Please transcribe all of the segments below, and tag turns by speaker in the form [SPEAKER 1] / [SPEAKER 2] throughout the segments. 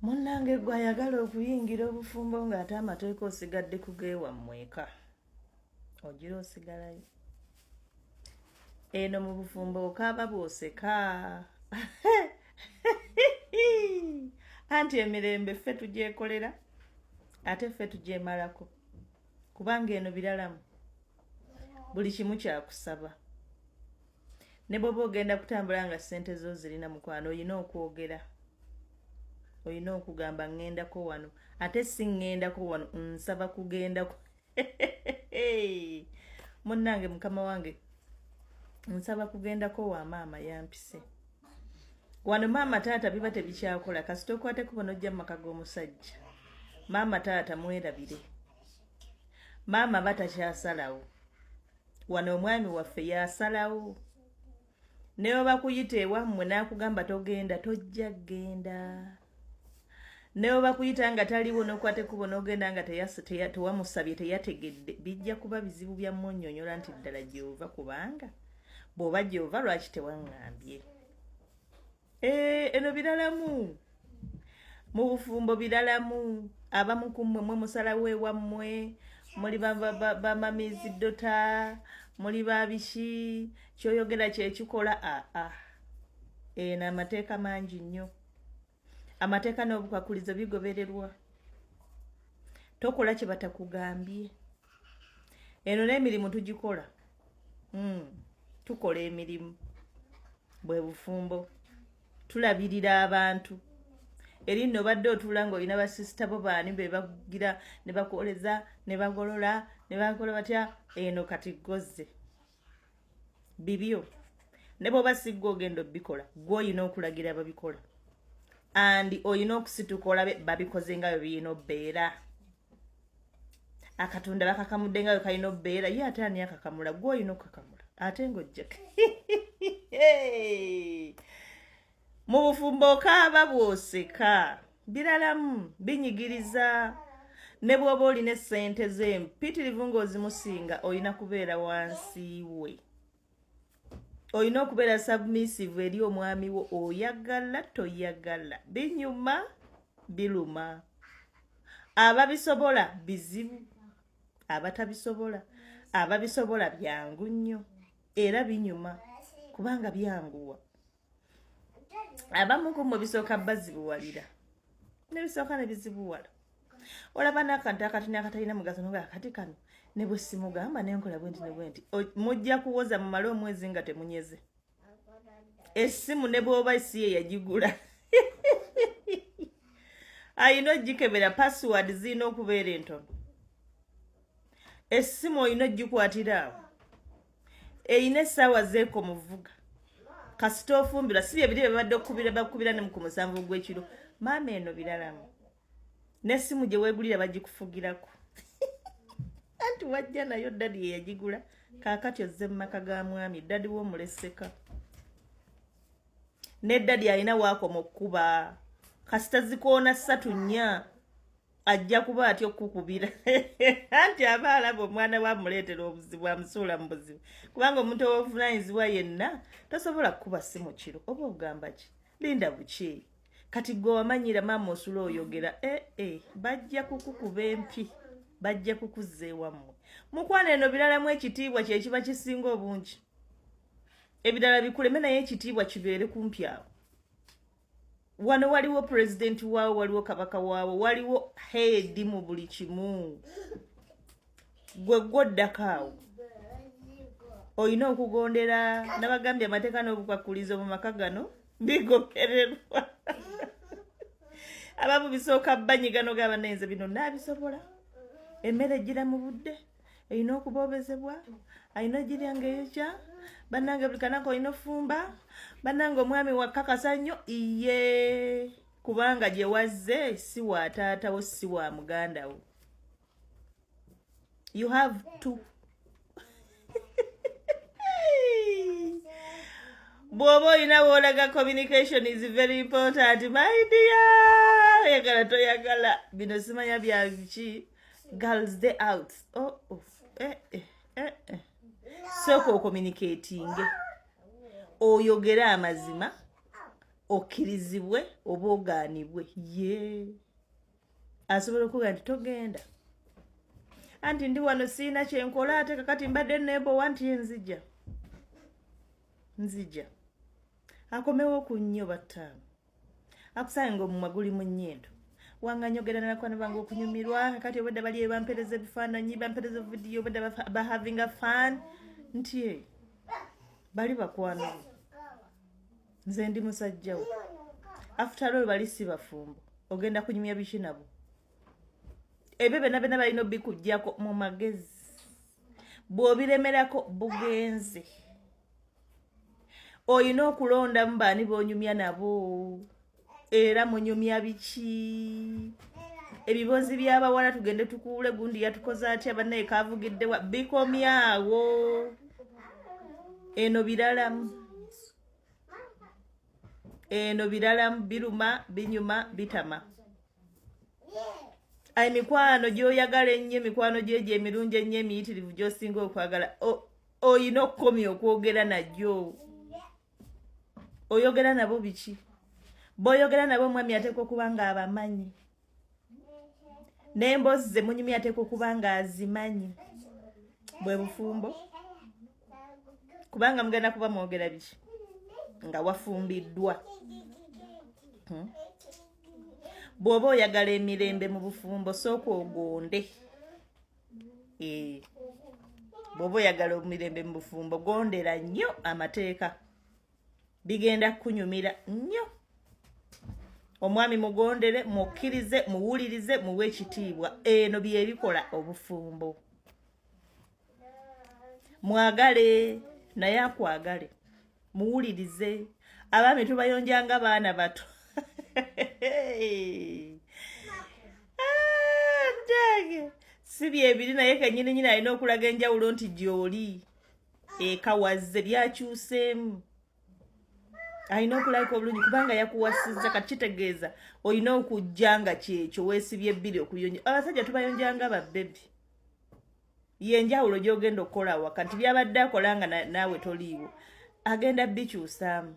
[SPEAKER 1] munnange gwe ayagala okuyingira obufumbo ng'ate amateeka osigadde kugeewammwe eka ogira osigalayo eno mu bufumbo okaaba bwoseka anti emirembe ffe tugyekolera ate ffe tugyemalako kubanga eno biralamu buli kimu kyakusaba ne bwoba ogenda kutambula nga sente zo zirina mukwano olina okwogera olina okugamba ŋŋendako wano ate si ŋŋendako wano nsaba kugendako munnange mukama wange nsaba kugendako wa maama yampise wano maama taata biba tebikyakola kasita okwateko bona ojja mu maka g'omusajja maama taata mwerabire maama batakyasalawo wano omwami waffe yasalawo ne bwe bakuyita ewammwe n'akugamba togenda tojja genda ne bwe bakuyita nga taliwo n'okwata ekkubo n'ogenda nga tewamusabye teyategedde bijja kuba bizibu bya mmunyonyola nti ddala gy'ova kubanga bw'oba gy'ova lwaki tewaŋŋambye Eh, eno biralamu mu bufumbo biralamu abamu ku mmwe mwe musalawo ewammwe muli bamamizi dota muli babiki kyoyogera kyekikola aa ah, ah. eno eh, amateeka mangi nnyo amateeka n'obukakulizo bigobererwa tokola kye batakugambye eno n'emirimu tugikola mm. tukola emirimu bwe bufumbo tulabirira abantu eri nno obadde otuula ng'olina basisita bo baani be bakugira ne bakwoleza ne bagolola ne bakola batya eno kati gozze bibyo ne bwoba siggwa ogenda obikola gwe olina okulagira babikola andi olina okusituka olabe babikoze nga bwe birina obeera akatunda bakakamudde nga wekalina obeera ye ate ani akakamula gwe olina okukakamula ate ngaojjake mu bufumbo okaaba bwoseka biralamu binyigiriza ne bwoba olina esente ze mpitirivu ngaozimusinga olina kubeera wansi we olina okubeera submissive eri omwami wo oyagala toyagala binyuma biluma ababisobola bizibu abatabisobola ababisobola byangu nnyo era binyuma kubanga byanguwa abamu ku mwe bisooka bazibuwalira nebisooka nebizibuwala olaba nakantu akatini akatalina mugaso noga akati kano ne bwe simugamba nenkola bwenti ne bwenti mujja kuwoza mu mala omwezi nga temunyeze essimu ne bwoba si ye yagigula ayina ogikebera password zirina okubeera entono essimu olina ogikwatira awo eyina essaawa zeeko muvuga kasita ofumbirwa si byebiri byebabadde okubira bakubira nemu ku musanvu ogwekiro maama eno biralamu nesimu gye weegulira bagikufugirako anti wajja nayo dadi yeyagigula kaakati ozze mu maka ga mwami dadi womuleseka ne dadi alina waakoma okukuba kasita zikoona ssatu nnya ajja kuba atya okukukubira anti aba alaba omwana we amuleetera obuzibu amusuula mu buzibu kubanga omuntu owobuvunanyizibwa yenna tosobola kukuba si mu kiro oba ogamba ki linda buki kati gwe wamanyira maama osula oyogera ee eh, eh, bajja kukukuba empi bajja kukuzza ewammwe mukwana eno biralamu ekitiibwa kyekiba kisinga obungi ebirala bikuleme naye ekitiibwa kibeere kumpi awo wano waliwo president waawo waliwo kabaka waawo waliwo heedi mu buli kimu gwe gwoddakaawo olina okugondera nabagambye amateeka n'obukwakulizo mu maka gano bigokererwa abamu bisooka banyigano gabanaenze bino naabisobola emmere ejira mu budde erina okubobezebwa alina ojirya nga eyokya banange buli kanaka olina ofumba banange omwami wakakasa nnyo iye kubanga gye wazze si wa taatawo si wa muganda wo you have to bwoba olina woolaga communication is very important my dear oyagala toyagala bino simanya byaki girls day out oh, oh. Eh, eh, eh, eh. sooka okomunikatinge oyogere amazima okkirizibwe oba ogaanibwe ye asobola okuga nti togenda anti ndi wano siina kyenkola ate kakati mbadde nebowa nti nzija nzija akomewo ku nnyo battaano akusaye ngaomumwa guli mu nyindo wanga nyogera nalakwana bange okunyumirwa kati obadde bali bampereza ebifaananyi bampereza vidiyo obadde bahavinga fan nti bali bakwano nze ndi musajjawo afutalo bali si bafumbo ogenda kunyumya biki nabo ebyo byona byona balina obikujjako mu magezi bw'obiremerako bugenze olina okulondamu baani bonyumya nabo era munyumya biki ebibozi byabawala tugende tukuule gundi yatukoze atya banaye kavugiddewa bikomyawo eno biralamu eno biralamu biruma binyuma bitama emikwano gyoyagala ennyo emikwano gyo egyo emirungi ennyo emiyitirivu gyosinga okwagala oyina okukomya okwogera najo oyogera nabo biki boyogera nabo omwami ateeka okuba nga abamanyi nembozi zemunyumi ateeka okuba nga azimanyi bwe bufumbo kubanga mugenda kuba mwogera biki nga wafumbiddwa hmm? bw'oba oyagala emirembe mu bufumbo sooka ogonde eh, bwoba oyagala omumirembe mu bufumbo gondera nnyo amateeka bigenda kukunyumira nnyo omwami mugondere mukkirize muwulirize muwe ekitiibwa eno byebikola obufumbo mwagale naye akwagale muwulirize abaami tubayonja nga baana bato ntange ah, si byebiri naye kenyini nyini alina okulaga enjawulo nti gyoli ekawazze byakyuseemu alina okulabika obulungi kubanga yakuwasizza kati kitegeeza olina okujja nga kyekyo weesibye bbiri okuyonja abasajja tubayonja nga babbebi yenjawulo gyogenda okukola awaka nti byabadde akola nga naawe toliiwo agenda bikyusaamu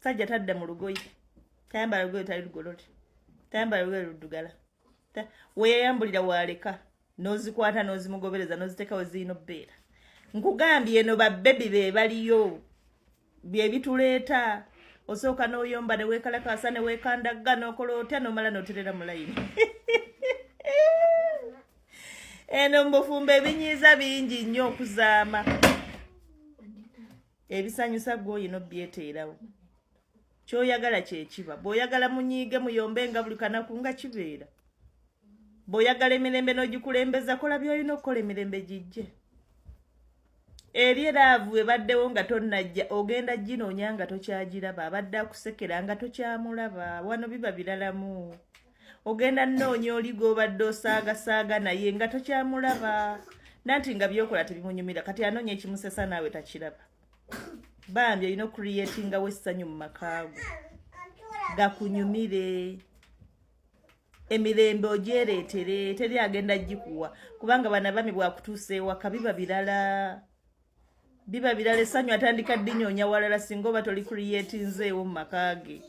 [SPEAKER 1] sajja tadda mu lugoye tayambala lugoye tali lugolole tayambala lugoye luddugala weyayambulira waaleka nozikwata nozimugobereza noziteekawo zirina obbeera nkugambye eno babebi be baliyo byebituleeta osooka n'oyomba ne weekalakaasa ne weekandagga n'okola otya n'omala n'oterera mu layini eno mbufumba ebinyiiza bingi nnyo okuzaama ebisanyusa gwoyi nobyeteerawo kyoyagala kyekiba bwoyagala munyiige muyombe nga buli kanaku nga kibeera bwoyagala emirembe n'ogikulembeza kola byolina okukola emirembe gijje eri eraavu ebaddewo nga tonnajja ogenda ginoonya nga tokyagiraba abadde akusekera nga tokyamulaba wano biba biralamu ogenda nnoonya oli gw'obadde osaagasaaga naye nga tokyamulaba nanti nga byokola tebimunyumira kati anoonya ekimusesa naawe takiraba bambi olina okureatingawo essanyu mu makaago gakunyumire emirembe ogyereetere teri agenda gikuwa kubanga bana bami bwakutuusa ewaka biba birala biba birala essanyu atandika ddinyoonya walala singa oba toli kuriyetinzeewo mu maka ge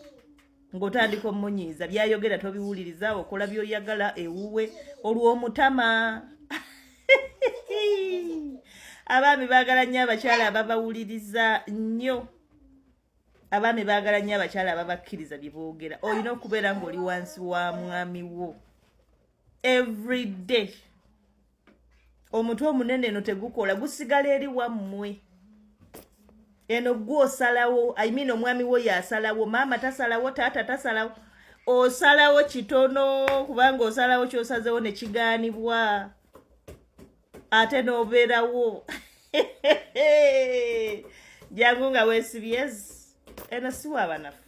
[SPEAKER 1] ng'otandika omunyiiza byayogera tobiwuliriza okola byoyagala ewuwe olw'omutama abaami baagala nnyo abakyala ababawuliriza nnyo abaami baagala nnyo abakyala ababakkiriza bye boogera olina okubeera ng'oli wansi wa mwami wo every day omutwe omunene eno tegukola gusigala eri wammwe eno gwe osalawo i mean omwami wo yasalawo maama tasalawo taata tasalawo osalawo kitono kubanga osalawo kyosazewo nekigaanibwa ate n'obeerawo jangu nga wesibyez eno siwabanafu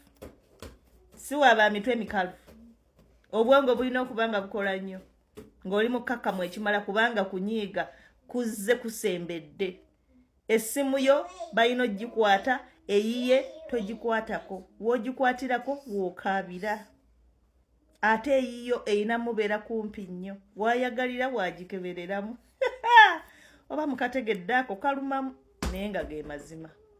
[SPEAKER 1] siwaba mitwe mikalu obwongo bulina okuba nga bukola nnyo ng'oli mukkakkamu ekimala kubanga kunyiiga kuzze kusembedde essimu yo balina ogikwata eyiye togikwatako woogikwatirako wookaabira ate eyiyo erina mubeera kumpi nnyo wayagalira wagikebereramu oba mukategedde ako kalumamu naye nga ge mazima